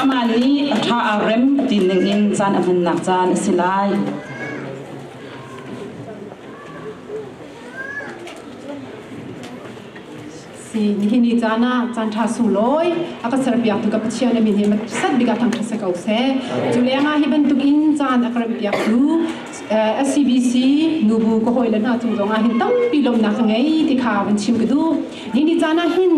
Amah nih a ṭha aa rem ti ningin caan a hmannak caan a si lai. Si nihin ni caan ah caan ṭha sulawi a ka serpiaktu ka Pathian a mi hi sat bik ah thangṭhat se ko seh. Cu lengah hi bantukin caan a ka rempiaktu SCBC nubu ka hawile hna cung zongah hin tampi lawmhnak ka ngei ti kha van chim ka duh. Ni ni caan ah hin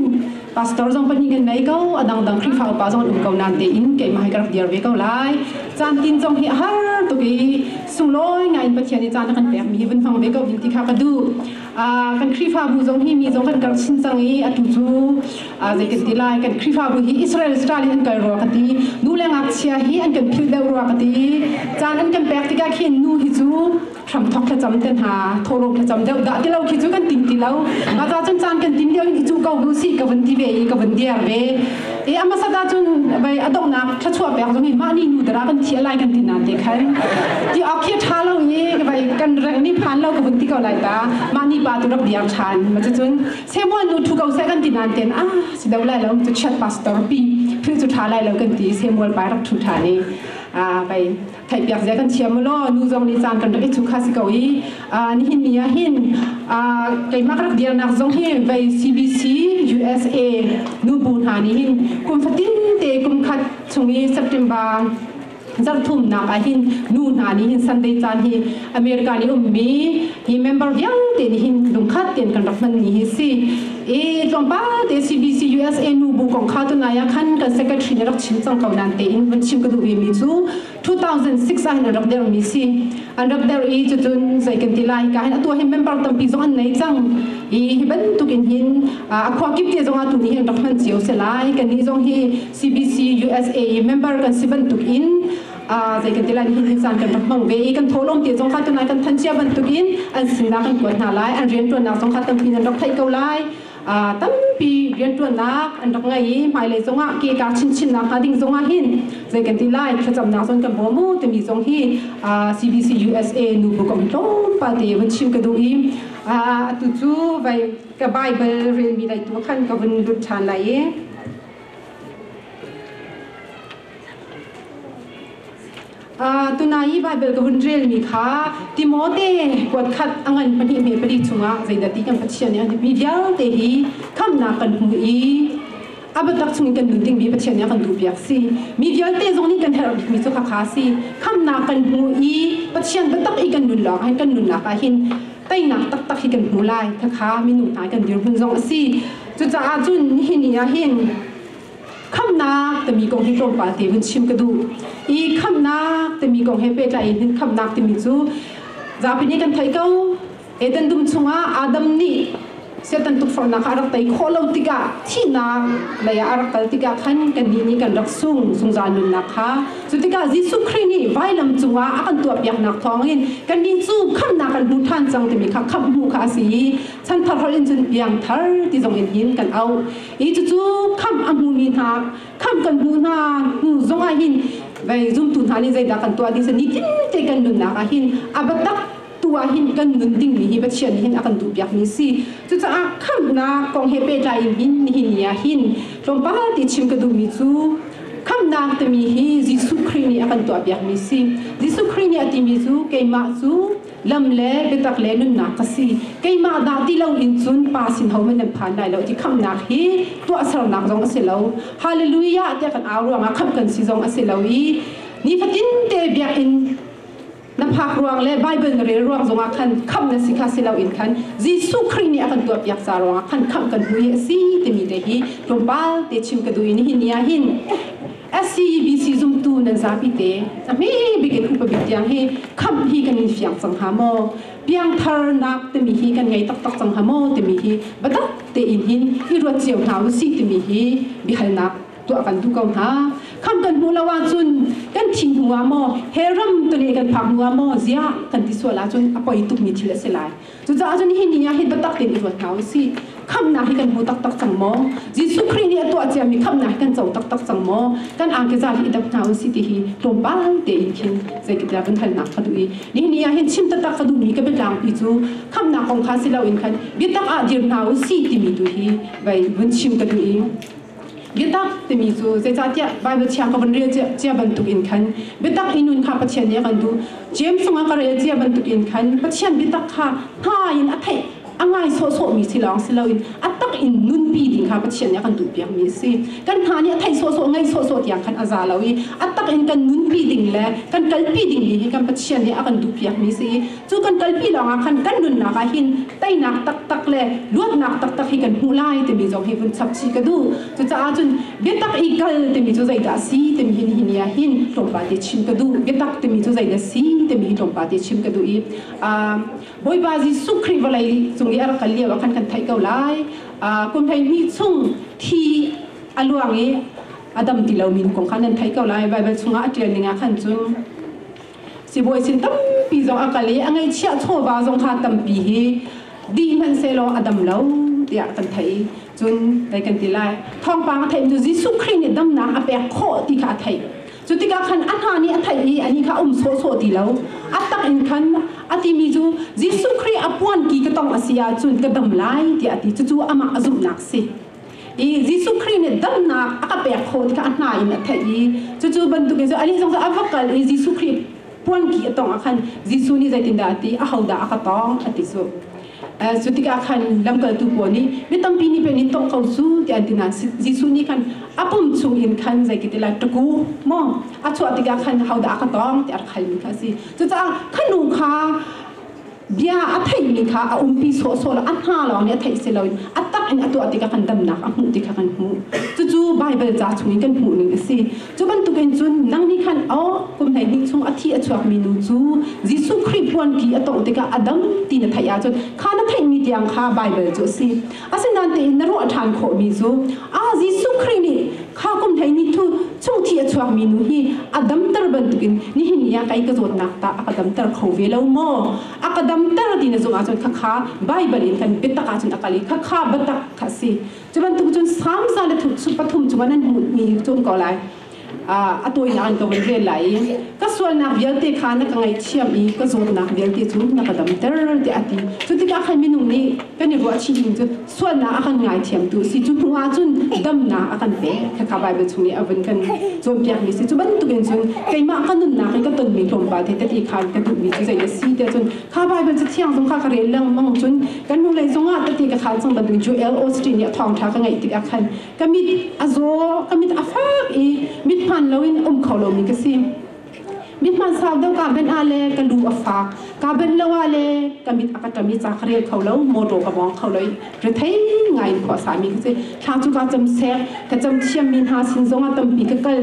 pastor zong pahnih kan nei ko, a dangdang Khrihfa upa zong an um ko nan tein keimah hai ka rak dir ve ko lai. Caan tin zong hi a har tuk i sulawi ngaiin Pathian i caan a kan pekmi hi van hmang ve ko ding ti kha ka duh. kan Khrihfabu zong hi mi zong kan kal chin cang i atu cu zei kan ti lai kan Khrihfabu hi Israel style in an kal rua ka ti nu le ngakchia hi an kan philh deuh rua ka ti caan an kan pek tikah khin nu hi cu hram thok thlacam te hna thorok thlacam deuh dah ti lo khi cu kan ting ti lo a ca cun caan kan tin lio in i cu ko bu si ka van ti ve i ka van dia ve E ambassador ah cun bei a donghnak thluachuah pek zong hi mah ni nu dara kan thiah lai kan ti na te khan ti ok khi tha lo i vai kan reng ni phan lo ka hun ti ko lai ta mah ni pa tu rap diar than ma che cun se mo nu thu ko se kan ti nan ten a si do lai lo tu chat pastor pi phi chu tha lai lo kan ti se mo pai rak thu tha ni a vai theihpiak zia kan thiam mu law nu zong nih caan kan rak i thu kha si ko i nihin ni ah hin keimah ka rak dirnak zong hi vei CBC USA nu bu hna nih hin kum fatin te kum khat chung i September zarthumnak ah hin nu hna nih hin Sunday caan hi America i ummi hi member vialte nih hin lungkhat tein kan rak hman ni hi si i tlawmpal te CBC USA nubu kong kha tunlai ah khan kan secretary nih rak chim cang ko nain tein vun chim ka duh mi cu 2006 ah hin rak der mi si an rak der i cucun zei kan ti lai ka hin atu hin member tampi zong an nei cang i hi bantuk in hin a khua kip te zong ah tu ni hin rak hman cio se lai kan ni zong hi CBC USA member kan si bantuk in zei kan ti lai nihin an caan kan rak hmang ve i kan tholawm te zong kha tunai kan thanchia bantuk in an sinah kan kuat hna lai an rianṭuannak zong kha tampi an rak theih ko lai tampi rianṭuannak an rak ngei i hmailei zongah ke ka chinchinnak hnga ding zongah hin zei kan ti lai thlacamnak zon kan bawm mu timi zong hi CBC USA nu bu kom tlawmpal te van chim ka duh i atu cu vai ka Bible relmi laitu khan ka vun lut ṭhan lai i Tunai Baibal ka hun relmi kha Timote kuat khat a ngan pahnih hme pali chungah zeidah ti kan Pathian nih an tipi vialte hi khamnak kan hmu i a biatak chungin kan nun dingmi Pathian nih a kan duhpiak si mi vialte zong nih kan herh bikmi cu khakha si khamnak kan hmu i Pathian biatak i kan nun lawng ah kan nunnak ah hin teinak taktak hi kan hmu lai thakha minung hna kan dirhmun zong a si cucaah cun nihin ni ah hin khamnak timi kong hi tlawmpal te hun chim ka duh i khamnak timi kong he pehtlai in hin khamnak timi cu zapi nih kan theih ko Eden dum chungah Adam nih Satan tukforhnak kha a rak tei khawh lo tikah thihnak lei ah a rak kal tikah khan kan nih nih kan rak sung zungzal nunnak kha cu tikah Jesuh Khrih nih vailam cungah a kan tuahpiaknak thawng in kan nih cu khamnak kan hmu ṭhan cang timi kha khamhmu kha a si i chanthar holh in cun piangthar ti zong in hin kan auh Hi cucu khamh a hmumi hna, khamh kan hmuh hna hnu zong ah hin vei zumtu hna nih zeidah kan tuah ding si nitin te kan nunnak ah hin a batak tu ah hin kan nun dingmi hi Pathian hin a kan duhpiakmi si cucaah khamhnak kong he pehtlai in hin nihin ni ah hin tlawmpal ti chim ka duhmi cu khamhnak timi hi Jesuh Khrih nih a kan tuahpiakmi si Jesuh Khrih nih a timi cu keimah cu lam le biatak le nunnak ka si keimah dah ti lo in cun pa sin ho in nan phan lai lo ti khamnak hi tuahsernak zong a si lo hallelujah tiah kan au ruangah khamh kan si zong a si lo i nifatin te biakinn na phak ruang le Bible na rel ruang zongah khan khamh na si kha si loin khan Jesuh Khrih nih a kan tuah piak ca ruangah khan khamh kan hmu hi a si timi te hi tlawmpal te chim ka duh i nihin ni ah hin SCEBC zumtu nan zapi te cahme bik in upa bik tiang hi khamh hi kan in fiang cang hnga maw? Piangtharnak timi hi kan ngei taktak cang hnga maw timi hi batak tein hin i ruat cio hna u si timi hi biahalnak tuah kan duh ko hna. Kham kan hmuh lo ahcun kan thing hnu ah maw he ram tule kan phak hnu ah maw ziah kan ti sual ahcun a poi tukmi thil a si lai. Cucaah cun hi ni ah hin biatak tein i ruat hna u sih. Khamhnak hi kan hmu taktak cang maw? Jesuh Khrih nih a tuah ciami khamhnak hi kan co taktak cang maw? Kan angkeza hi i dap hna u sih ti hi tlawmpal tein khin zeitiah kan halnak kha duh i nihin ni ah hin chim taktak ka duhmi ka biatlangpi cu khamhnak kong kha si loin khan biatak ah dir hna u sih timi tu hi vei vun chim ka duh i Getak timi cu zeicahtiah Bible chia ka van rel cia bantuk in khan biatak i nun kha Pathian nih a kan duh James cungah ka rel cia bantuk in khan Pathian biatak kha hna in a theih a ngai sawhsawhmi si lawng si loin a tak in nunpi ding kha Pathian nih a kan duhpiakmi a si kan hna nih a theih sawhsawh ngai sawhsawh tiang khan a za lo i a tak in kan nunpi ding le kan kalpi ding mi hi kan Pathian nih a kan duhpiakmi si i cu kan kalpi lawngah khan kan nunnak ah hin teinak taktak le luatnak taktak hi kan hmuh lai timi zong hi vun chap chih ka duh cucaah cun biatak i kal timi cu zeidah a si timi hin hi ni ah hin tlawmpal te chim ka duh biatak timi cu zeidah si timi hi tlawmpal te chim ka duh i Bawipa Jesuh Khrih vawlei cung i a rak kal lio ah khan kan theih ko lai kum hleihnih chung thi a luang i a dam ti lomi kong khan nan theih ko lai Baibal chungah a ṭial ning ah khan cun sibawi sin tampi zong a kal i a ngaihchiah chawva zong kha tampi hi di hmanhsehlaw a dam lo tiah kan theih cun dai kan ti lai thawngpang a theih tu Jesuh Khrih nih damnak a pek khawh ti kha a theih cu tikah khan a hna nih a theih i ani kha um sawhsawh ti lo a tak in khan a timi cu Jesuh Khrih a puan ki ka tong a si ahcun ka dam lai tiah a ti cucu amah a zumhnak si i Jesuh Khrih nih damnak a ka pek kho ti kha a hna in a theih i cucu bantukin cu anih zong a va kal i Jesuh Khrih puanki a tong ah khan Jesuh nih zeitindah a ti a hodah a ka tong a ti cu cu tikah khan lamkaltu pawl nih mi tampi nih pei nin tong ko cu ti an ti nain Jesuh nih khan a pum chung in khan zeiketila ṭaku maw a chuah tikah khan hodah a ka tong ti a rak halmi kha a si cucaah ka nu kha bia a theimi kha a umpi sawhsawh lo a hna lawng nih a theih si lo a tak in a tuah ti kha kan damnak a hmuh ti kha kan hmuh cucu Baibal ca chung in kan hmuhning a si cu bantukin cun nang nih khan o kum hleihnih chung a thi a chuakmi nu cu Jesuh Khrih puanki a tawh tikah a dam ti na theih ahcun kha na theihmi tiang kha Baibal cu a si Asinain tiin na ruah ṭhan khawhmi cu ah Jesuh Khrih nih kha kum hlei ni thu chungthi a chuakmi nu hi a damter bantukin nihin ni ah kei ka zawtnak tah a ka damter kho ve lo maw? A ka damter ti na zung ahcun khakha Baibal in kan biatak ahcun a kal i khakha biatak kha a si. Cu bantuk cun Psalm za le pathum chung a nan hmuhmi cu ko lai. a tawinak ka van vel lai i ka sualnak vialte kha na ka ngaihthiam i ka zawtnak vialte cu na ka damter ti a ti cu tikah khan minung nih kan i ruahchih ning cu sualnak a kan ngaithiamtu si cu hnuah cun damnak a kan pek kha Baibal chung i a vun kan cawnpiakmi si cu bantukin cun keimah ka nunnak i ka tonmi tlawmpal te tati khan ka duhmi cu zei na si tiah cun kha Baibal cu thiang zong kha ka rel lengmang cun kan lung lei zongah tati ka khal cang bantukin Joel Osteen nih a thawngṭha ka ngaih tikah khan ka mit a zaw ka mit a fak i mit hmaan loin um kho lomi ka si mit hmaan sau deuh ka ben ah le ka lu a fak ka ben lo ah le ka mit a ka ṭam i ca ka rel kho lo motor ka bong kho lo i rethei ngai in khua sami ka si thla cu ka cam sek ka cam thiam mi hna sin zong a tampi ka kal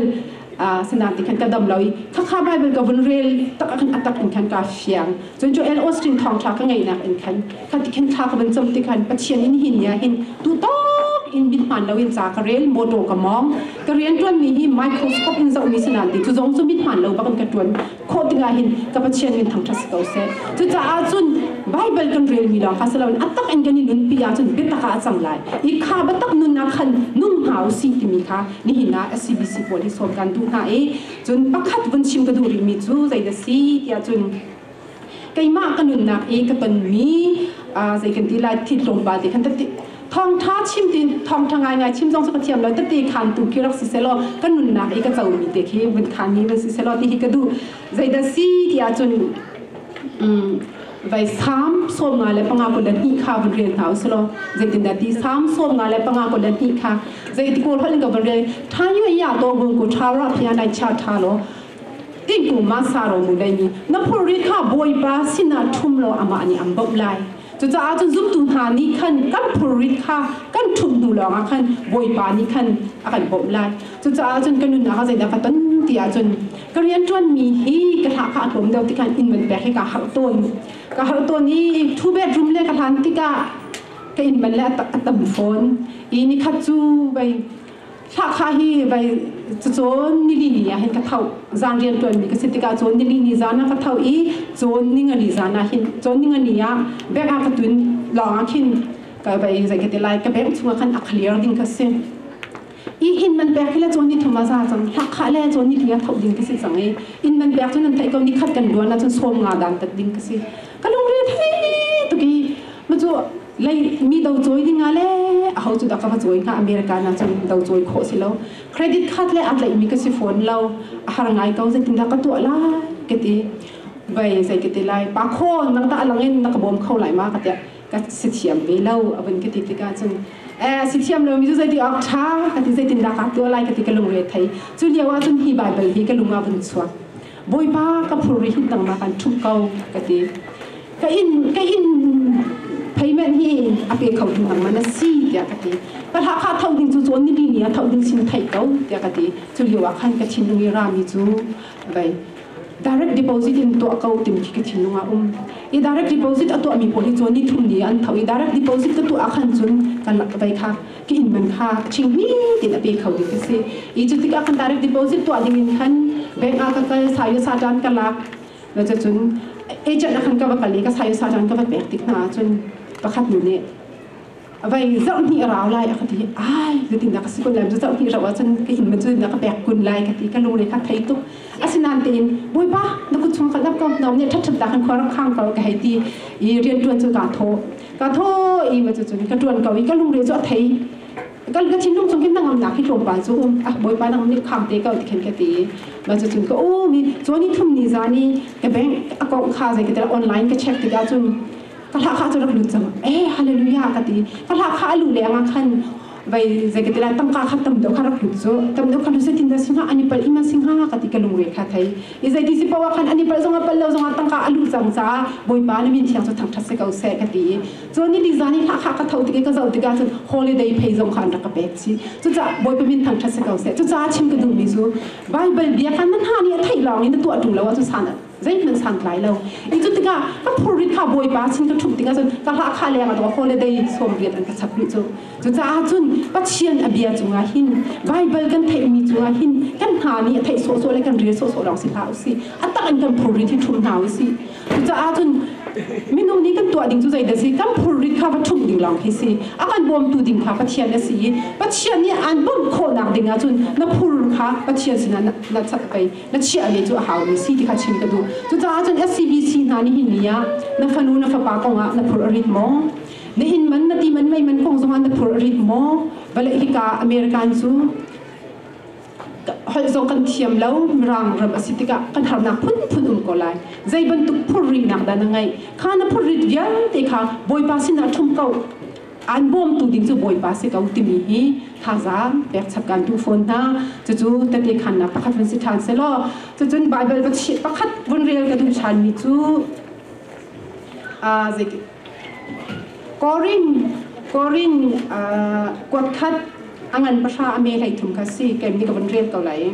sinan ti khan ka dam lo i khakha bible ka vun rel tak khan atak in khan ka fiang Cun Joel Austin thawngṭha ka ngeihnak in khan ka tikhin thla ka van cam tikhan Pathian in hin nia hin tutawk in min hmaan loin ca ka rel, mawṭaw ka mawng, ka rianṭuanmi hi microscope in zohmi si nain ti cu zong cu mit hmaan lo bak in ka ṭuan khawh tikah hin ka Pathian min thangṭhat si ko seh. Cucaah cun Baibal kan relmi lawng kha si loin a tak in kan i nunpi ahcun biatak ah a cang lai i kha biatak nun ah khan nung hna u si timi kha nihin ah a CBC pawl hi sawm kan duh hna i Cun pakhat vun chim ka duh rihmi cu zei dah si tiah cun keimah ka nunnak i ka tonmi zei kan ti lai thi tlawmpal te khan ka ti thawngtha chim ti thawngtha ngaingai chim zong cu ka thiam lo tete khantu ki rak si selaw ka nunnak i ka comi te khi vun khanmi van si selaw ti hi ka duh zei dah si tiah cun vai sam som nga le panga ko dan ni kha van rel ta u selo zeitin da ti sam som nga le panga ko dan ni kha zeiti ko rol ga van rel thayu ya to gung ku tha ra phian dai cha tha lo in ku ma sa ro mu dai ni na phor ri kha boi ba sina thum lo ama ani am bop lai cucaah cun zumtu hna nih khan kan phurrit kha kan thum hnu lawngah khan bawipa nih khan a kan bawmh lai cucaah cun kan nun ah zai da ka ton ti ah cun ka rianṭuanmi hi ka hla kha a tlawm deuh tikah inn man pek hi kaa harh tawn ka harh tawn i two bedroom le ka hlan tikah ka inn man le a tam fawn i ni khat cu vai thlakha hi vai cun nilini ah hin ka thau zan rian tuan mi ka si tikah cun nilini zan ah ka thau i cun ningani zan ah hin cun ningani ah bek ah ka tun lawng ah khin ka vai zeikete lai ka bek chungah khan a clear ding ka si i inn man pek hi le cun ni thum a za cang hlakha le cun ni thum a thawh ding ka si cang i inn man pek cun an theih ko ni khat kan luan la cun sawm nga dan tak ding ka si ka lungre thei tuk i ma cu lei mi do choi ding a le a ho cu da ka va choi na america na cun do choi kho si lo credit card le at lei mi ka si phone lo a har ngai ko zeitin la ka tu la ka ti bai zei ka ti lai pa kho nang ta langin na ka bom kho lai ma ka tia ka si thiam ve lo a vun ka ti tikah cun eh si thiam lomi cu zeitik awk ṭha ka ti zeitindah ka tuah lai ka ti ka lungre thei cu lio ah cun hi baibal hi ka lung ah vun chuak bawipa ka phurhin nangmah kan ṭhum ko ka ti ka in ka in payment hi a pe kho ding nangman a si tiah ka ti ka hla kha thau ding cu cun nili ni a thau ding sin thei ko tiah ka ti cu lio ah khan ka thinlung i rami cu vai direct deposit in tuah ko timi khi ka thinlung ah um i direct deposit a tuahmi pawl hi cu nithum ni an tho i direct deposit ka tuah ahkhan cun kan vei kha ka inn man kha chingmi tin a pe kho ding ka si i cu tikah khan direct deposit tuah ding in khan bank ah ka kal sayo sajan ka lak na cu cun agent ahkhan ka va kal i ka sayo sajan ka va pek tik hna ahcun pakhat nu nih vai zoh ni rau lai a ka ti ai ka tin ka si kun lai zoh ni rau ahcun ka in man cu na ka pek kun lai ka ti ka lung le kha thei tuk asinan tein boipa na ku chung ka lap ko nom ne that ta kan khor khang ko ka hei ti i rian tuan cu ka tho ka tho i ma chu chun ka tuan ko i ka lung re zo thei ka ka thin lung chung kin nangam na khi tlom pa chu um ah boipa nang ni kham te ka tikhen ka ti ma chu chun ka o mi choni thum ni zani ka bank account kha zai ka online ka check tika chun Fahla kha cu rak lut cang eh hallelujah ka ti fahla kha a lu le anga khan vai zeketila tangka kha tam deuh kha rak lut chu tam deuh kha lu setin da singa ani pal ima singa ka ti ka lungre kha thai i zai ti si pawa khan ani pal zonga pal lo zonga tangka alu chang cha boipa na min thiang chu thang thak se kau se ka ti cho ni li zani kha kha ka thau tike ka zau tika chu holiday phei zong khan rak ka pek si chu cha boipa min thang thak se kau se chu cha chim ka du mi chu bible bia khan nan ha ni a thai long in tu atu lo chu san zeihmanh sangtlai lo i cu tikah ka phurit ha bawipa sin ka ṭhum tikah cun ka hla leng a dawh holiday sawm riat an ka chap rih cu cucaah cun Pathian a bia cungah hin Baibal kan theihmi cungah hin kan hna nih a theih sawhsawh le kan rel sawhsawh lawng si hlah usih a tak in kan phurit hi ṭhum hna usih cucaah cun minung nih kan tuah ding cu zeidah si kan phurit kha va ṭhumh ding lawng khi si a kan bawmtu ding kha Pathian a si i Pathian nih aan bawmh khawhnak ding ahcun na phur kha Pathian sinah na cat pei Na chiahmi cu a haumi si ti kha chim ka duh. Cucaah cun SCBC hna nih hihi ah na fanu na fapa kongah na phurh a rit maw? Na inn man, na ti man, mei man kong zongah na phurh a rit maw? Vale hika American cu holh zong kan thiam lo, Mirang ram a si tikah kan harnak phunphun um ko lai. Zei bantuk phurhrinak dah na ngeih? Kha na phurhrit vialte kha Bawipa sinah ṭhum ko. Aan bawmtu ding cu Bawipa si ko timi hi thazaang pekchap kan duh fawn hna. Cucu tete khannak pakhat vun si ṭhan selaw, cucun Baibal pakhat vun rel ka duh ṭhanmi cu aa zeik Korin Korin kuatkhat a ngan pahra a me hlei thum kha si kem ni ka vun rel ko lai.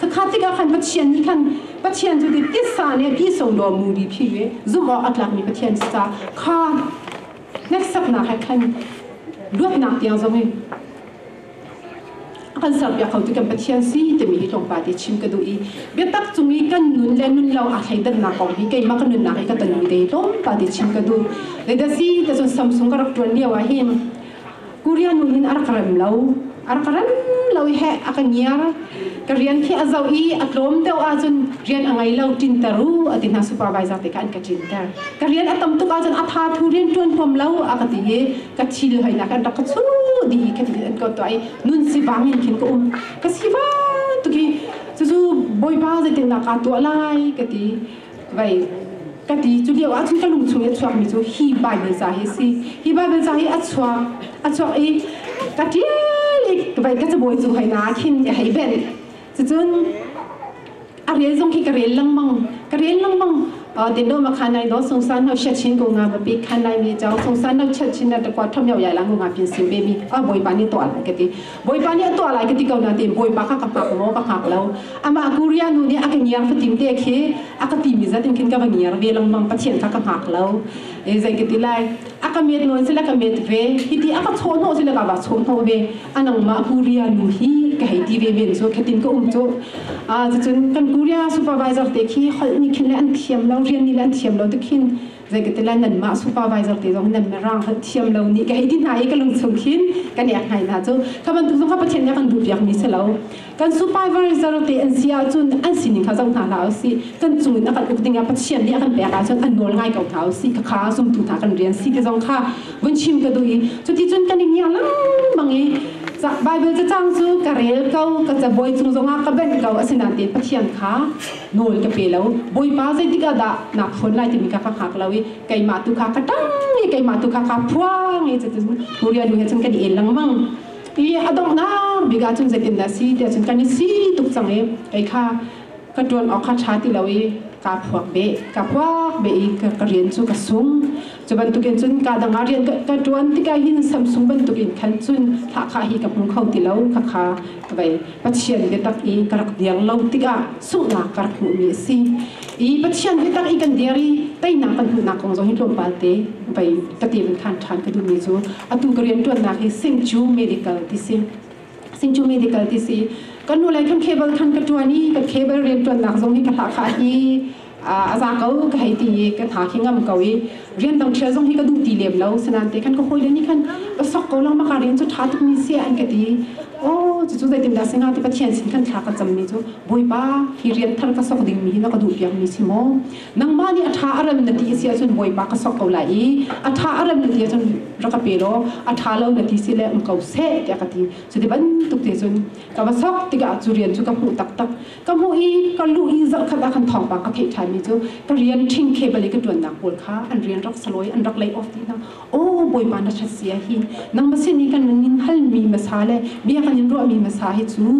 Khakha tikah khan Pathian nih khan Pathian cu titsa le pisawlaw muri phi ve zumh awk a tlakmi Pathian si caah kha hneksaknak he khan luatnak tiang zong in a kan serpiak kho tu kan Pathian si timi hi tlawmpal te chim ka duh i biatak cung i kan nun le nun lo aa thleidannak kong hi keimah ka nunnak i ka tanu te tlawmpal te chim ka duh Ledasi ta cun Samsung ka rak ṭuan lio ah hin Korea nu hin ar ka rem lo ar ka rem lo i he a ka ngiar ka rian khi a zo i a tlawm deuh ahcun rian a ngei lo tinter u a ti hna supervisor te kan ka tinter ka rian a tam tuk ahcun a tha thu rian tuan huam lo a ka ti i ka thil hoinak an rak ka chu di ka ti an ko to ai nun si vang in khin ka um ka si va tuki cucu bawipa zeite nak ka tuah lai ka ti vai ka ti cu lio ah cun ka lung chung i a chuak mi cu hi Bible ca hi si hi Bible ca hi a chuak a chuak i ka tial i vai ka cabawi cu hoi na khin ka hei ben cucun a rel zong khi ka rel langmang ka rel langmang te no ma khan nai no sung san no sha chin ko nga ba pi khan nai mi chau sung san no chat chin na ta kwa tham yau ya la ngu nga pin sim be mi a boi ba ni to ala ka ti Bawipa nih a tuah lai ka ti ko nain Bawipa kha ka pek law ka hngak lo. Amah Korea nu nih a ka ngiar fatin te khi a ka timi zat in khin ka va ngiar ve lengmang, Pathian kha ka hngak lo. E, zei ka ti lai? A ka met nawn sila ka met ve, hiti a ka chawhnawh sila ka va chawhnawh ve. A nangmah Korea nu hi ka hei ti ve men cu, khatin ka um cu. Cucun kan Korea supervisor te khi holh nih khin le an thiam lo, rian nih le an thiam lo te khin zeikatilan nanmah supervisor te zong nan na rang hlanh thiam lo ni ka hei ti hna i ka lung chung khin kan ek ngai hna cu ka bantuk zong kha pathian nih kan duh piak mi si lo kan supervisor te an si ahcun an sining kha zong hna hla u si kan cung in a kan uk ding ah pathian nih a kan pek ahcun an nawl ngai ko hna u si ka kha sumtu hna kan rian si te zong kha vun chim ka duh i cuti cun kan i ngia mang i Bible cacang cu ka rel ko ka cabuai chung zong ah ka benh ko asinain pathian kha nawl ka pe lo bawipa zeitik ah dah naa phuan lai timi kha ka hngak lo i keimah tu kha ka tang i keimah tu kha ka phuang i cutin huria du he cun kan i el lengmang i a donghnak bik ah cun zeitindah si tiah cun kan i si tuk cang i kei kha ka ṭuan awk kha ṭha ti lo i kaa phuak beh ka phuak beh i ka, ka rian cu ka sung Cu bantukin cun kaa dang ah rian ka ṭuan tikah hin Samsung bantukin khan cun thahkhah hi ka hmu kho ti lo, khakha ka vei. Pathian biatak i ka rak dir lo tikah sunghnak ka rak hmuhmi a si. I Pathian biatak i kan dir i teinak kan hmuhnak kong zong hi tlawmpal te vei ka tir khan ṭhan ka duhmi cu atu ka rianṭuannak hi St. Jude Medical ti si. Sinchu medical ti si kan nu lei kan cable than ka tuan i ka cable rian tuan nak zong hi ka hla kha hi a za ko ka hei ti i ka tha khi ngam ko i rian dang thil zong hi ka duh ti lem lo senan te khan ka hoi le ni khan ka sok ko lang ma ka rian chu tha tuk mi se an ka ti o chu chu dai tin da singa ti pathian sin kan thla ka cham mi chu boipa hi rian thar ka sok ding mi hi na ka duh piak mi si mo nangmah nih a ṭha a rem na ti a si ahcun bawipa ka sok ko lai i a ṭha a rem na ti ahcun rak ka pe law a ṭha lo na ti si le um ko seh tiah ka ti cu ti bantuk te cun ka va sok tikah cu rian cu ka hmuh taktak ka hmuh i ka luh i zarh khat ah khan thawngpang ka theih ṭhanmi cu ka rian ṭhing khe bali ka ṭuannak pawl kha an rian rak saloi an rak lay off ti hna o bawipa na ṭhat sia hi nangmah sin i kan in halmi masa le bia kan in ruahmi masa hi cu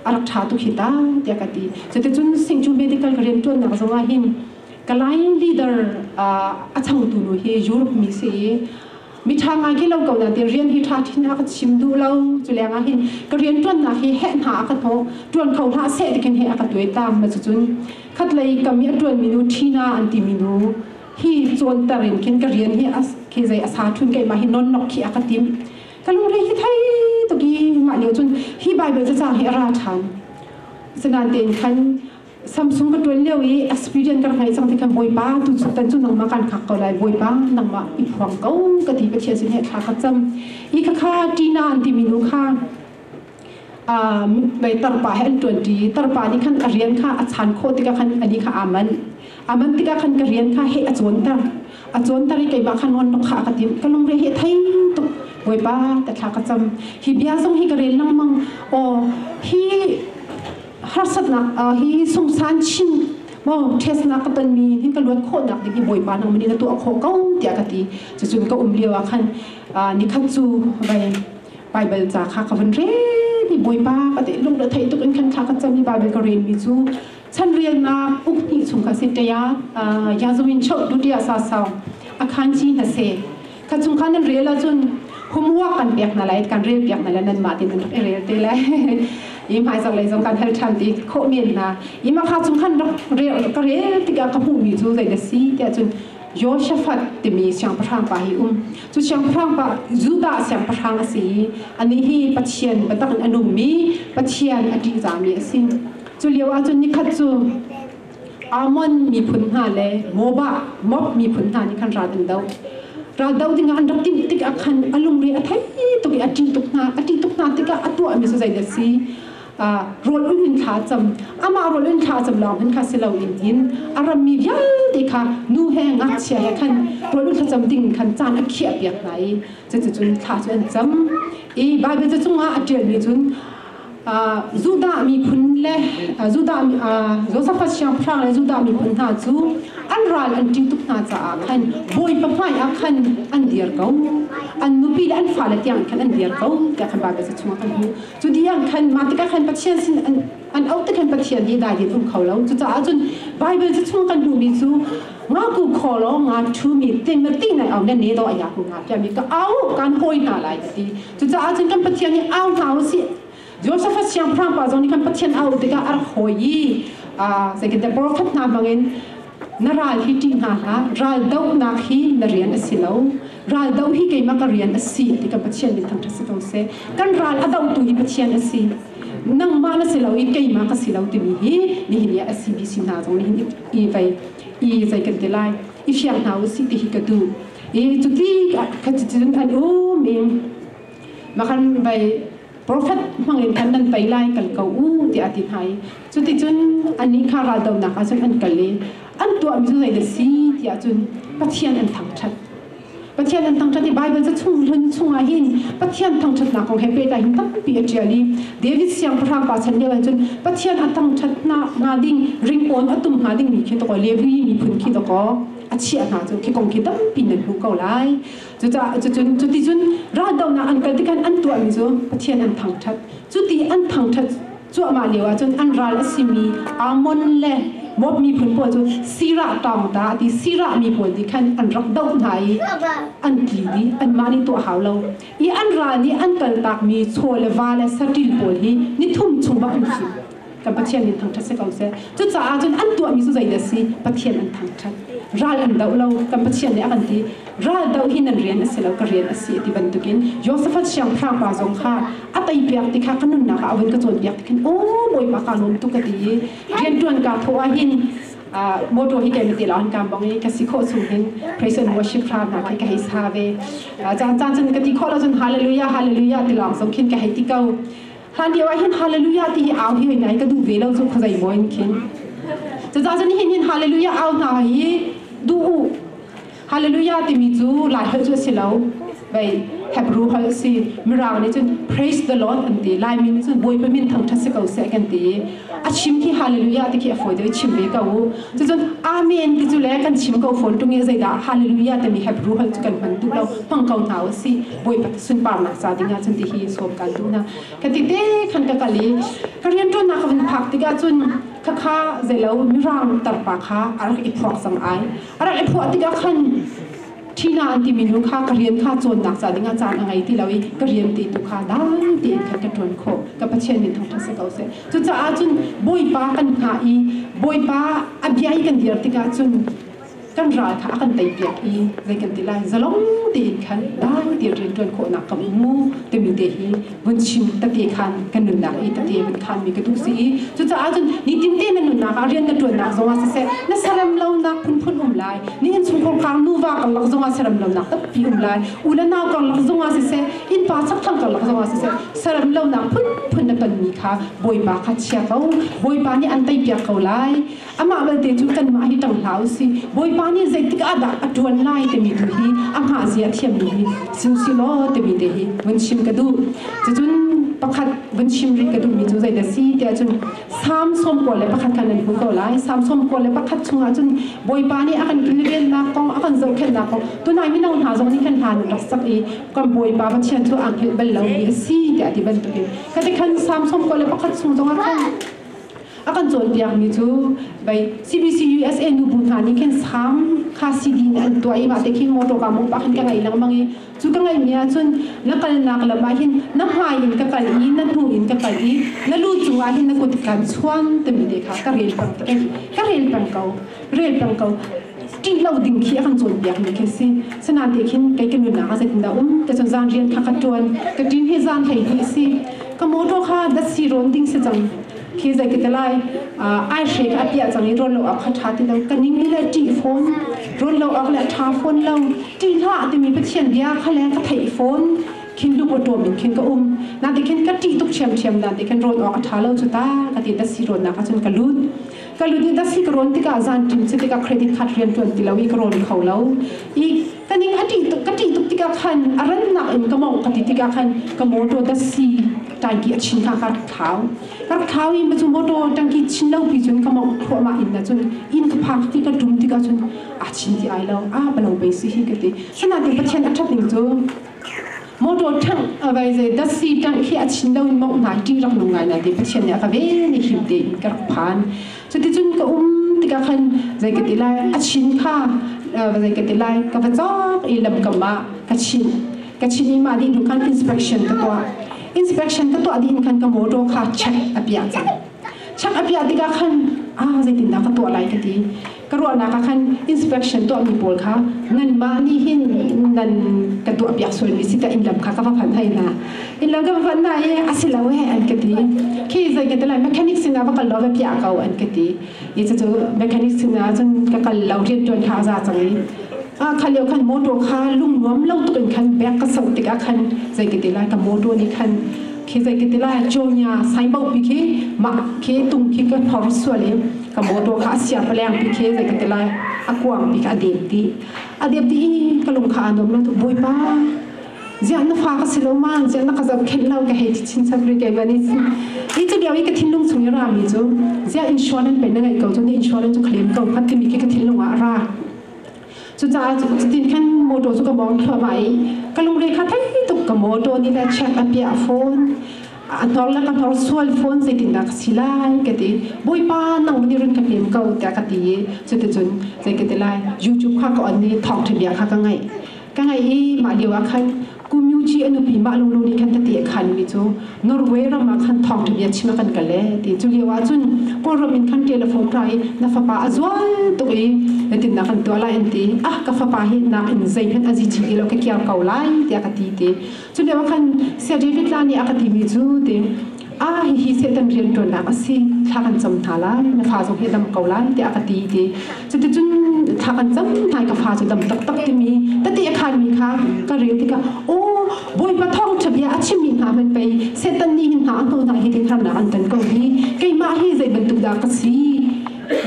a rak ṭha tu hi ta tiah ka ti. Cuticun Singh cu medical ka rianṭuannak zong ah hin Kalay leader a changtu nu hi Europe mi si i miṭha ngai hi lo ko nain rian hi ṭha ṭhin a ka chim duh lo. Culeng ah hin ka rianṭuannak hi heh hna a ka hnawh, ṭuan kho hlah seh tikin hi a ka tuai tam. Cucun khatlei kam i a ṭuanmi nu Tina an timi nu hi cawnter in khin ka rian hi khi zei a sa ṭhun keimah hi nonnok khi a ka timh. ka lungre hi thei tuk i mah lio cun hi bible cacang hi a ra ṭhan sangan tein khan Samsung ka tuan lio i experience ka ngai cang tikhan bawipa tu chuk tan cu nangmah kan hak ko lai bawipa nangmah i phuang ko ka ti Pathian sin he thla ka cam i khakha tina an ti minu kha mei tarpa he an ṭuanṭi i tarpa nih khan a rian kha a chan khawh tikah khan ani kha aa manh a manh tikah khan ka rian kha heh a cawnter a cawnter i keimah kha nawn kha ka timh ka lungre hi thei tuk bawipa ka thla ka cam hi bia zong hi ka rel lengmang aw hi harsatnak hi sungsan chin maw ṭhesnak ka tonmi hin ka luat khawhnak ding hi bawipa nang min in a tuah khawh ko tiah ka ti cucun ka um lio ah khan nikhat cu vai Baibal ca kha ka vun rel i Bawipa ka te lungre thei tuk in khan thla ka cam i Baibal ka relmi cu chanrialnak uk hnih chung kha si ṭaya Yazawin cheu dutia sa sau a khan chi hna se ka chung khan nan rel ahcun humua kan pek na lai kan rel piak na lai nan mah tin nan rak i rel te lai i hmaizak lei zong kan hal ṭhan ti khawh men na ima kha chung khan rak rel ka rel tikah ka hmuhmi cu zei na si tiah cun Yoshafat timi siangpahrang pa hi um. Cu siangpahrang pa Judah siangpahrang a si i anih hi Pathian biatak in a nungmi Pathian a ṭihzahmi a si. Cu lio ahcun nikhat cu Ammon miphun hna le Moabah Moab miphun hna nih khan ral an doh. Ral doh dingah an rak timh tikah khan a lungre a thei tuk i a ṭih tuk hna. A ṭih tuk hna tikah a tuahmi cu zeidah a si? rol un in thla cam ama rol in thla cam lawng hin kha si lo in in a rammi vialte kha nu he ngakchia he khan rol un thla cam ding in khan caan a khiah piak hna i cucucun thla cu an cam i Baibal ca chungah a ṭialmi cun Judah miphun le Judah Josephus siangpahrang le Judah miphun hna cu an ral an ṭi tuk hna caah khan bawipa hmaiah khan an dir ko an nupi le an fale tiang khan an dir ko tiah khan Baibal ca chungah kan hmuh Cu di ah khan mah tikah khan Pathian sin an an auh tikhan Pathian hi dai din um kho lo cucaah cun Bible cu chung kan duhmi cu nga ku kho lo nga ṭhumi tinna ti nai au nan ne do aya ku nga piami ka au kan hoi hna lai ka ti cucaah cun kan Pathian hi au hna u si Joseph siang phrangpa zong nih kan Pathian au tikah ar hoi i second the prophet hna bangin na ral hi ṭih hna hlah, ral dohnak hi na rian a si lo, ral doh hi keimah ka rian a si ti kan Pathian nih thangṭhat si ko seh. Kan ral a dohtu hi Pathian a si. Nangmah na si lo i keimah ka si lo timi hi nihin i a si mi si hna zong nih i vei i zei kan ti lai i fiang hna u sih ti hi ka duh i cuti cuticun an um in makhan vei profet hmangin khan nan pei lai kal ko u tiah a ti hna i cuticun annih kha raldohnak ah cun an kal i an tuahmi cu zeidah si tiah cun Pathian an thangṭhat Pathian an thangṭhat i Baibal cu chung hlun chungah hin Pathian thangṭhatnak kong he pehtlai hin tampi a ṭial i David siangpahrang pa chan lio ah cun Pathian a thangṭhat hnga ding ringkawn a tum hnga dingmi khi tawkaw Levi miphun khi tawkaw a chiah hna cu khi kong khi tampi nan hmu ko lai Cucaah cucun cuti cun raldohnak an kal tikhan an tuahmi cu Pathian an thangṭhat. Cuti an thangṭhat cuahmah lio ahcun an ral a simi Ammon le Moab miphun pawl cu Sirah ṭang ta a ti. Sirah mi pawl nih khan an rak doh hna i an tli dih, anmah nih tuah hau lo i an ral nih an kal takmi chaw le va le saṭil pawl hi ni thum chung ah an him. kan Pathian in thangṭhat si ko seh. Cucaah cun an tuahmi cu zei dah si? Pathian an thangṭhat. Ral an doh lo. Kan Pathian nih a kan ti. Ral doh hi nan rian a si lo, ka rian a si ti bantukin Josafat siangpahrangpa zong kha a teipiak ti kha ka nunnak ah a vun ka cawnpiak ti khin, Aw Bawipa kaa lawm tuk ka ti i rianṭuan kaa thawh ahhin, motor hi kei na til ah an kaam bang i ka si khawh chung hin praise and worship hra hna kha ka hei sa ve. Caan caan cun ka ti khawh lo cun hallelujah, hallelujah ti lawng zong khin ka hei ti ko. Hlan lio ah hin hallelujah ti hi au hi oi ngai ka duh ve lo cu khuazei maw in khin. Caza cun hin hin hallelujah au hna hi du u. Hallelujah timi cu lai hal cu a si lo. Vei thepru hal si mirang nih cun praise the lord an ti lai min cun buai pe min thang tha si ko se kan ti a chim khi hallelujah ti khi a foi deu chim ve ko u cun amen ti cu le kan chim ko phone tung i zeidah hallelujah timi hepru hal cu kan hman tu lo hmang ko hna u si bawipa sunparnak sa dingah cun tihi sawm kan duhna ka ti te khan ka kal i ka rian ṭuannak ka vun phak tikah cun khakha zelo mirang tarpa kha a rak i phuak sang ai a rak i phuah tikah khan thina an timi nu kha ka rian kha cawnnak ca dingah caan a ngei ti lo i ka rian ti tu kha dang tein khan ka ṭuan khawh ka pathian nih thangṭhat si ko seh cucaah cun bawipa kan hngah i bawipa a bia i kan dir tikah cun kan ral kha a kan teipiak i zei kan ti lai zalong tein khan dai ti rian ṭuan khawhnak ka vun mu timi te hi vun chim tate khan kan nunnak i tate vun khanmi ka duh si i cucaah cun nitin te na nunnak ah rian na ṭuannak zongah siseh na sarem lonak phunphun um lai nihin chungkhar kang nuva karlak zongah sarem lonak tampi um lai u le nau karlak zongah siseh innpa chakthang karlak zongah siseh sarem lonak phunphun na tonmi kha bawipa kha chia ko bawipa nih an teipiak ko lai Amah belte cu kanmah hi tang hlah u sih, Bawipa nih zeitik ahdah a ṭuan lai timi tu hi amah zia a thiammi hi si u sih law timi te hi vun chim ka duh. Cucun pakhat vun chim rih ka duhmi cu zeidah si tiah cun Salm sawm kua le pakhat khan an hmu ko lai. Salm sawm kua le pakhat chungah cun Bawipa nih a kan kilvennak kong, a kan zohkhenhnak kong, tunai mino hna zong nih khan hla an rak sak i kan Bawipa Pathian cu aa hngelh bal lomi a si tiah a ti bantukin khatikhan Salm sawm kua le pakhat chung zongah khan A kan cawnpiakmi cu CBC USA nubu hna nih khin sang kha CD in an tuah i mahte khin motor ka mu pa khin ka ngai lengmang i cu ka ngaihmi ahcun na kalnak lam ah hin na hmai in ka kal i na hnu in ka kal i na lu cung ah hin na kut kan chuan timi te kha ka rel peng ka rel peng ko rel peng ko ṭih lo ding khi a kan cawnpiak mi khi si sana'n te khin kei ka nunnak a zeitindah um te cun zan rian kha ka ṭuan ka ṭin hi zan hlei hi si ka motor kha dasi rawn ding si cang khi zei ka lai ai hre ka apia cang i rol lo ak kha ṭha ti lo ka ning ni le ṭih phone rol lo ak le ṭha phone lo ṭih hla timi pathian bia kha le ka thei phone khin lu ko ṭom in khin ka um na ti khin ka ṭih tuk ṭhiam ṭhiam dan ti khin rol awk a ṭha lo chu ta ka ti dasi rawn na ka cun ka lut ka lutnit a si ka rawn tikah zan ṭim cu tikah credit card rian ṭuan ti lo i ka rawn kho lo i ka ning a ṭih tuk ka ṭih tuk tikah khan a rannak in ka mawngh ka ti tikah khan ka motor da si tangki a chin hna ka rak thau ka rak thau i cu motor tangki chin lo pi cun ka mawngh thluahmah in na cun in ka phak ti ka ṭum tikah cun a chin ti ai lo a balo pe si hi ka ti sanatin pathian a ṭhat ning cu motor tangh akai zei taxi tangh khi a chin lo in mawngh hna ṭi rak nung ngai na te pathian nih a ka ve ni him te in ka rak phan cuticun ka um tikah khan zei ka ti lai a chin kha zei ka ti lai ka va cawk i lam kam ah ka chin ka chin i mah nih nu khan inspection ka tuah inspection ka tuah dih in khan ka motor kha check a piah cang Chak a piah tikah khan ah zeitindah ka tuah lai ka ti. Ka ruahnak ah khan inspection tuahmi pawl kha nanmah nih hin nan ka tuah piak sualmi si ta innlam kha ka va phanh hai hna. Innlam ka va phanh hna i a si lo e an ka ti. Khi zei ka ti lai mechanic sinah va kal law va piah ko an ka ti. Ni cu mechanic sinah cun ka kal lo rian ṭuan kha a za cang i a kha leo khan motor kha lung nuam lo tukin khan back ka soh tikah khan zei ka ti lai ka motor nih khan khi zei ti lai jonya saibo pi khi ma khi tung khi ka thor sual i ka motor kha sia paleng pi khi zei ti lai akuang pi ka adep ti adep ti ka lung kha anom lo tu boipa zian na fa ka silo man zian na ka zab khen lo ka hei ti chin chak ri ke gani i chu bia i ka thinlung chung i ra mi chu zia insurance pe na ngai ko chu ne insurance chu claim ko phat ti mi khi ka thinlung a ra Cucaah cu cutin khan motor cu ka mawng thluahmah i ka lungre kha thei tuk ka motor nih le check a piah phone a hnor la ka hnor sual phone zeitindah ka si lai ka ti bawipa nang min run ka pem ko tiah ka ti i cuticun zei ka ti lai YouTube kha ka on i thawngṭha bia kha ka ngaih ka ngaih i mah lio ah khan Community a nupi mah lunglu nih khan ka ti a khanmi cu Norway ram ah khan thawngṭha bia chim ah kan kal e ti cu lio ahcun Kawlram in khan telephone ra i na fapa a zual tuk i tinnak kan tuah lai an ti ah ka fapa hi nakin zeihmanh a zi ti lo ka kiar ko lai tiah ka ti ti cu lio ah khan Sir David Tlani a ka timi cu ti ah hihi Satan rianṭuannak a si, thla kan cam hna lai, na fa zong hi a dam ko lai, tiah a ka ti, ti. Cuticun thla kan cam hna i ka fa cu dam taktak timi tete a khaanmi kha ka rel tikah, aw, Bawipa thawngṭha bia a chimmi hna hmanh pei Satan nih hin hna a hnu hna hi tei harnak an ton ko hi, keimah hi zei bantuk dah ka si?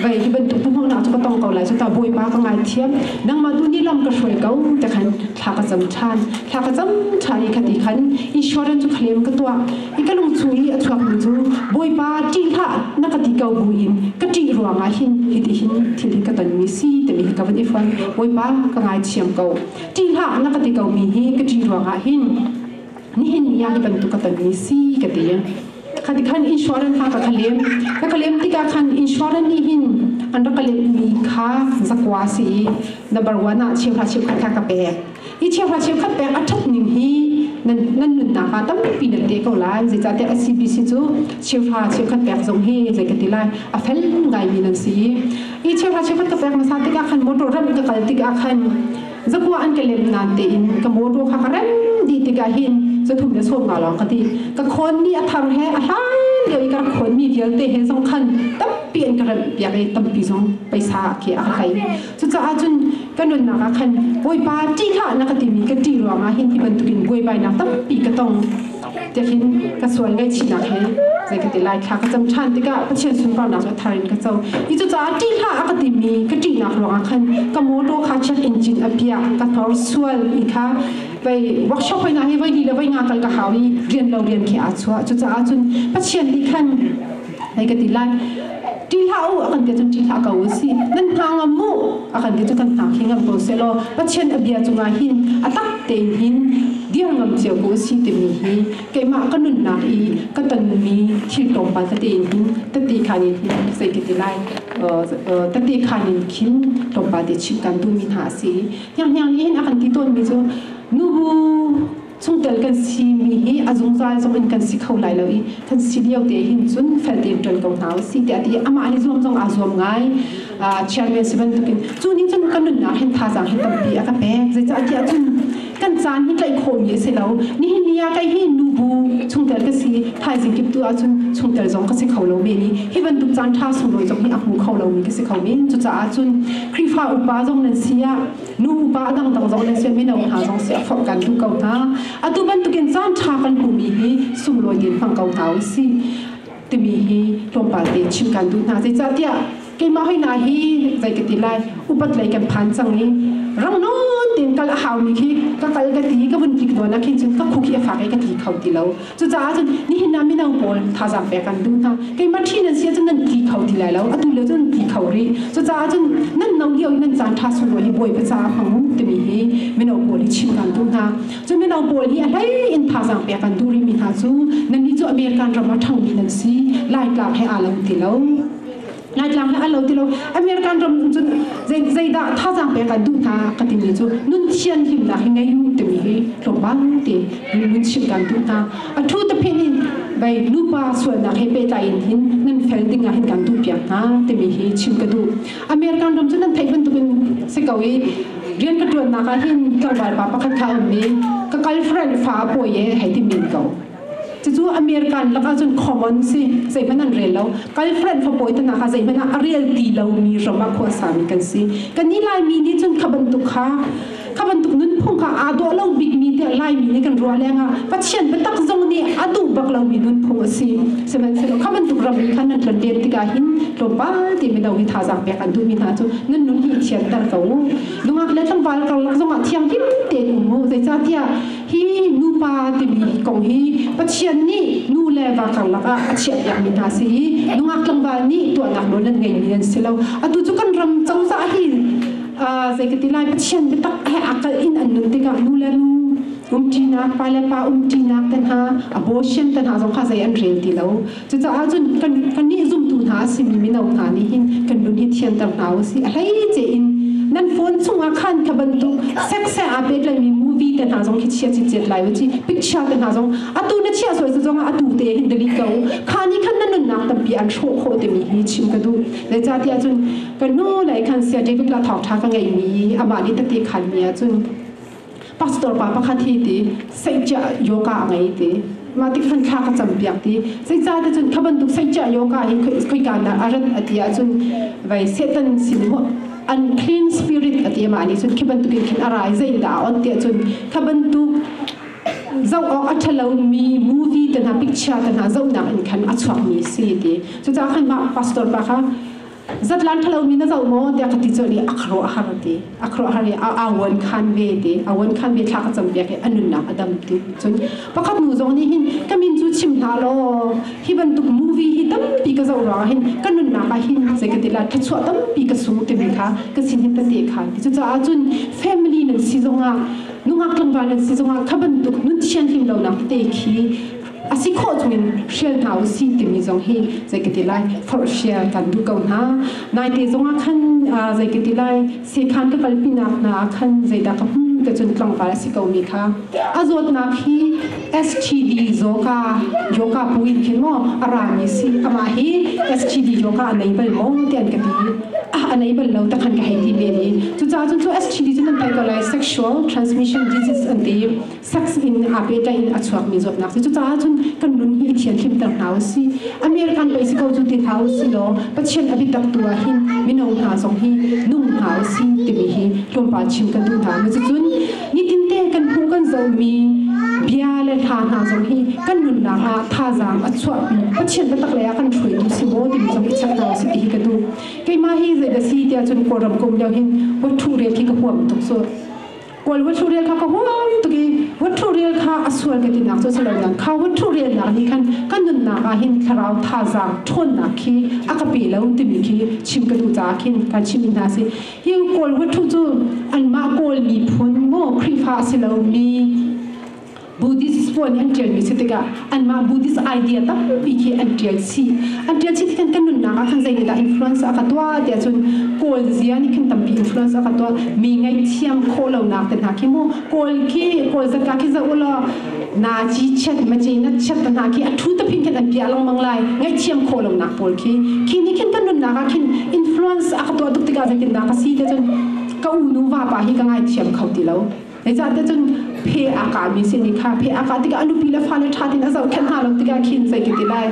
vai hi bantuk hnuhmangnak cu ka tong ko lai cu ta bawipa ka ngaithiam nangmah tu ni lam ka hruai ko te khan thla ka cam than thla ka cam than i khati khan Eswaran chu khlem ka tuak i ka lung chung i a chuak mi chu bawipa ti hla na ka ti ko bu in ka ti ruanga hin hi ti hin thil hi ka ton mi si te mi ka van i fon bawipa ka ngai chiam ko ti hla na ka ti ko mi hi ka ti ruanga hin nihin ni ya bantuk ka ton mi si ka te Khati khan insurance kha ka khalem ka khalem tikah khan insurance nih hin an rak ka lemmi kha zakwa si i number one ah cheuhra cheu khat ka pek hi cheuhra cheu khat pek a ṭhat ning hi nan nan nunnak ah tampi nan te ko lai zeicahtiah SCBC cu cheuhra cheu khat pek zong hi zei ka ti lai a fel ngaimi nan si i cheuhra cheu khat ka pek hmasa tikah khan motor ram ka kal tikah khan zakua an ka lem nan te in ka mo ro kha ka ran di tikah hin zathum le som nga lawng ka ti ka khon ni a thar he a hlan leo i ka khon mi vialte he zong khan tampi an ka ran piak i tampi zong paisa ke a kai cucaah cun ka nunnak ah khan bawipa ti kha na ka timi ka ti ruangah hin hi bantukin buai bai nak tampi ka tong tiahkhin ka sual ngaihchihnak he zei ka ti lai thla ka cam ṭhan tikah Pathian sunparnak cu thar in ka co i cucaah ṭih hlah a ka timi ka ṭihnak ruangah khan ka mawṭaw kha check in cin a piah ka hnorsual i kha pei workshop hoi nga hi voi li le voi nga kal ka hau i rian lo rian khi aa chuah cucaah cun Pathian nih khan Hai ka ti lai ṭi hlah u a kan ti cun ṭi hlah ko u si nan hna ngam mu a kan ti cu kan hna khi ngam ko se law Pathian a bia cungah hin a tak tein hin diang ngam cio ko si timi hi keimah ka nunnak i ka tonmi thil tlawmpal tete in hin tati khan in hin zei ka ti lai tati khan in khin tlawmpal te chim kan duhmi hna a si hnianghniang nih hin a kan ti tawnmi cu nubu Chungtel kan si mi hi a zungzal zong in kan si kho lai lo i kan si lio te hin cun fel tein ṭuan ko hna usih tiah a ti i amah an i zuam zong aa zuam ngai. Chairman si bantukin cu nih cun kan nunnak hin thazaang hi tampi a ka pek zeicah tiah cun kan caan hi tlaih khawhmi a si lo nihin ni ah kei hi nubu chungtel ka si thaizing kip tu ahcun chungtel zong ka si kho lo men i hi bantuk caan ṭha sunglawi zong hi a hmu kho lomi ka si kho men cucaah cun Khrihfa upa zong nan si ah nupa dangdang zong le sin mino hna zong si a forh kan tu ko hna atu bantukin caan ṭha kan hmumi hi sunglawi tein hmang ko hna u si timi hi tlawmpal te chim kan duh hna zeicahtiah keimah hoi na hi zei ka ti lai upat lei kan phan cang i rang no tin kal a hau mi khi ka kal ka ti ka vun tik duan a khi cun ka khu khi a fa ka ti kho ti lo Cucaah cun nihin ah mino pawl thazaang pek an duh hna. Keimah ṭhi nan si ahcun nan ti kho ti lai lo. Atu lio cun nan ti kho rih. Cucaah cun nan no lio i nan caan ṭha sunglawi hi bawipa caah hmang u timi hi mino pawl hi chim ṭhan duh hna. Cun mino pawl nih a hlei in thazaang pek an duh rihmi hna cu nannih cu American ram ah ṭhangmi nan si. Laitlak he aa lo ti lo. Laitlang le a lo ti lo American ram cun zeidah thazaang pek ah duh hna ka timi cu nun thian himnak hi ngei u timi hi tlawmpal te mun chim kan duh hna a thu te phin in bai lupa sualnak he pehtlai in hin nan fel ding ah hin kan duh piak hna timi hi chim ka duh American ram cu nan theih bantuk in si ko i rian ka tuan nak ah hin tlawmpal pa pakhat kha um mi ka girlfriend fa a pawi e hei ti min ko Cucu American lakah cun common si zeihmanh an rel lo kal hmanh fapawi te nak ah zeihmanh ah a rel ti lomi ram ah khuasami kan si kan i Laimi nih cun kha bantuk kha kha bantuk nunphung kha aa dawh lo bikmi tiah Laimi nih kan ruah lengah Pathian biatak zong nih a duh bak lomi nunphung a si sihmanhsehlaw kha bantuk ram in khan nan tlanter tikah hin tlawmpal ti mino hi thazaang pek an duhmi hna cu nan nun hi i thianter ko u nungak le tlangval karlak zongah thiang lim tein um u zeicahtiah Hi nupa timi kong hi Pathian nih nu le va karlak ah a chiahpiakmi hna si i nungak tlangval nih tuahnak nawl an ngeimi an si lo. Atu cu kan ram cozah hi zei ka ti lai Pathian biatak he aa kalh in an nun tikah nu le nu umṭinak, pa le pa umṭinak te hna, abortion te hna zong kha zei an rel ti lo. Cucaah cun kan, kan nih zumtu hna a simi mino hna nih hin kan nun hi thianter hna u sih. A hlei tein nan phone chungah khan ka bantuk sekse aa pehtlaimi movie te hna zong khi chia cit lai u ci picture te hna zong atu na chiah sual zongah atu te hin delete ko kha ni khan na nunnak tampi an hrawh khawh timi hi chim ka duh zeicahtiah cun kan nu lei khan sia David la thawg ṭha ka ngeihmi amah nih tati khalmi ahcun pastor pa pakhat hi ti sengcia yoga a ngei ti ma ti khan thla ka cham piak ti sei ca te cun khaban tuk sengcia yoga hi khoi ka na aran ati a cun vai satan sin ho unclean spirit ati ma ni cun khaban tuk in khin arai zei da on ti cun khaban tuk zau awk a thalo mi movie te na picture te na zau nak in khan a chuak mi si ti cu ca khan ma pastor pa kha zatlan thalo mi na zo maw tiah ka ti cu ni akhro a har ti akhro a har i awan khan ve ti awan khan ve thla ka cham biak i anunnak adam ti cun pakhat nu zong nih hin ka min cu chim hna law hi bantuk movie hi tampi ka zo ra hin ka nunnak ah hin sai ka tila thuchuah tampi ka sung timi kha ka sin hin ta te kha ti cucaah cun family nan si zongah nungak tlangval nan si zongah kha bantuk nun thian hlim lo nak te khi a si khawh chungin hrial hna u si timi zong hi zei ka ti lai forh share kan duh ko hna nai te zongah khan zei ka ti lai sekhan ka kalpinak hna ah khan zeidah ka hmun ka cun tlangval a si ko mi kha a zawtnak hi STD yoga yoga puin khin mo a ra mi si ama hi STD yoga a nei bal mo tian ka ti a nei bal lo ta khan ka hei ti ve ni cu ca cun chu STD cun an pai ko lai sexual transmission disease an ti seks in aa pehtlaih a chuakmi zawtnak si. Cucaah cun kan nun hi i thianhlimter hna u sih. American pei si ko cu ti hna u sih law Pathian a biatak tu ah hin mino hna zong hi nung hna u sih timi hi tlawmpal chim kan duh hna. Cucun nitinte kan hmuh kan zohmi bia le hla hna zong hi kan nunnak ah thazaang a chuahpi. Pathian biatak lei ah kan hruaitu si maw timi zong i chek hna u sih ti hi ka duh. Keimah hi zei da si tiah cun Kawlram ka um lio hin wathu rel khi ka huam tuk cu. Kawl huathu rial kha ka huai tuk i huathu rial kha a sual ka tinak cu silo dan kha huathu rialnak nih khan ka nunnak ah hin thlarau thazaang ṭhawnnak khi a ka pe lo timi khi chim ka duh caah khin kan chimmi hna si hi kawl huathu cu anmah kawl miphun maw Khrihfa a si lomi Buddhist pawl nih an ṭialmi si tikah anmah Buddhist idea tampi khi an ṭial chih. An ṭial chih tikhan kan nunnak ah khan zeinihdah influence a ka tuah tiah cun Kawl zia nih khin tampi influence a ka tuah mi ngaihthiam khawh lonak te hna khi mu Kawl khi Kawl zat hna khi za u law nazi chiat mace na chiat hna khi a ṭhu tapin khin an piah lengmang lai ngaihthiam khawh lonak pawl khi khi nih khin kan nunnak ah khin influence a ka tuah tuk tikah zeitindah ka si tiah cun ka unu vapa hi ka ngaithiam kho ti lo Zeicahte cun phe a ka mi sin i kha phe a ka tikah a nupi le fale ṭha tin a zohkhenh hna lo tikah khin zei ka ti lai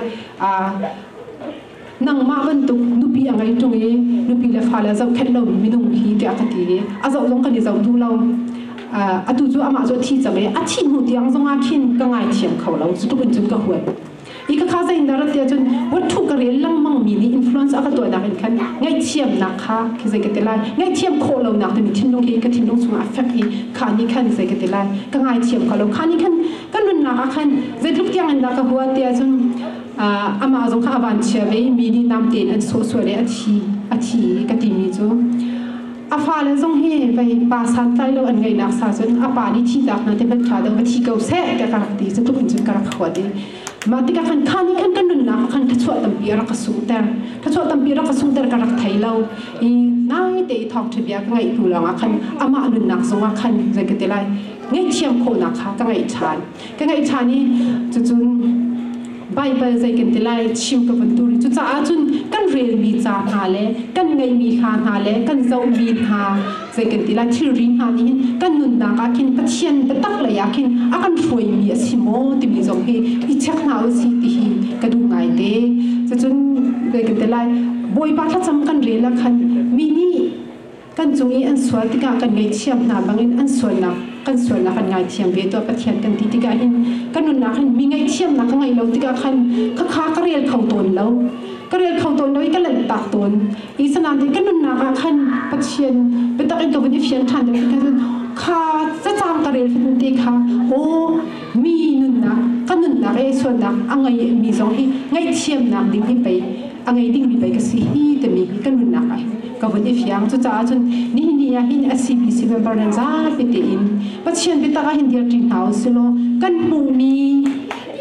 nangmah bantuk nupi a ngei ṭung i nupi le fale zohkhenh lo minung hi tiah ka ti i a zoh zong kan i zoh duh lo atu cu amah cu a thi cang i a thih hnu tiang zongah khin ka ngaithiam kho lo cutukin cun ka huat i ka kha zein rat te cun wathu ka rel langmang mi nih influence a ka tuah nak in khan ngaihthiam nak kha khi zei ka te lai ngaihthiam khawh lo nak te mi thinlung hi ka thinlung chungah a fek i kha ni khan zei ka te lai ka ngaithiam ka lo kha ni khan kan nunnak ah khan zeitluk tiang in dah ka hua te cun amah zong kha a van chia ve mi nih nam tein an suh sual i a thi a thi ka ti mi cu a fale zong hi vei pa santlai lo an ngaihnak sa cun a pa nih thihnak hna te ban ṭha dang va thi ko seh ka ka rak ti cu tuk cun ka rak khuat i ma tikah khan kha nih khan kan nunnak khan ka chuah tampi a rak ka sungter ka chuah tampi a rak ka sungter ka rak thei lo i ngai te i thawng ṭha bia ka ngaih hnu lawngah khan amah nunnak zongah khan zai ka ti lai ngaihthiam khawhnak kha ka ngaih ṭhan ka ngaih ṭhan i cucun Baibal zei kan ti lai chim ka vun dur i cucaah cun kan relmi ca hna le kan ngeihmi hla hna le kan zohmi hna zei kan ti lai thilri hna nih hin kan nunnak ah khin Pathian biatak lei ah khin a kan hruaimi a si maw timi zong hi i check hna u si ti hi ka duh ngai te cucun zei kan ti lai Bawipa thlacam kan rel ah khan mi nih Kan cung i an sual tikah kan ngaihthiam hna bangin an sualnak kan sualnak an ngaithiam ve tuah Pathian kan ti tikah hin ka nunnak hin mi ngaihthiamnak ka ngei lo tikah khan khakha ka rel kho tawn lo ka rel kho tawn lo i ka lanhtak tawn i sanain ka nunnak ah khan Pathian biatak in ka vun i fian ṭhan da cun kha cacang ka rel fun te kha aw mi nunnak ka nunnak i sualnak a ngei mi zong hi ngaihthiamnak ding hi pei a ngei dingmi pei ka si hi timi ka nunnak ai ka vun i fiang cucaah cun ni ni ah hin a si mi si member nan zapi te in pathian biatak ah hin dir ṭi hna u silaw kan hmuhmi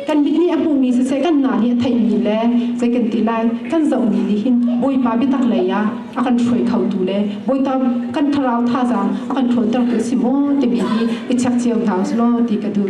kan mit nih a hmuhmi siseh kan na nih a theihmi le zei kan ti lai kan zohmi nih hin bawipa biatak lei ah a kan hruai khotu le bawipa kan thlarau thazaang a kan ṭhawnter tu si maw timi hi i chek cio hna u silaw ti ka duh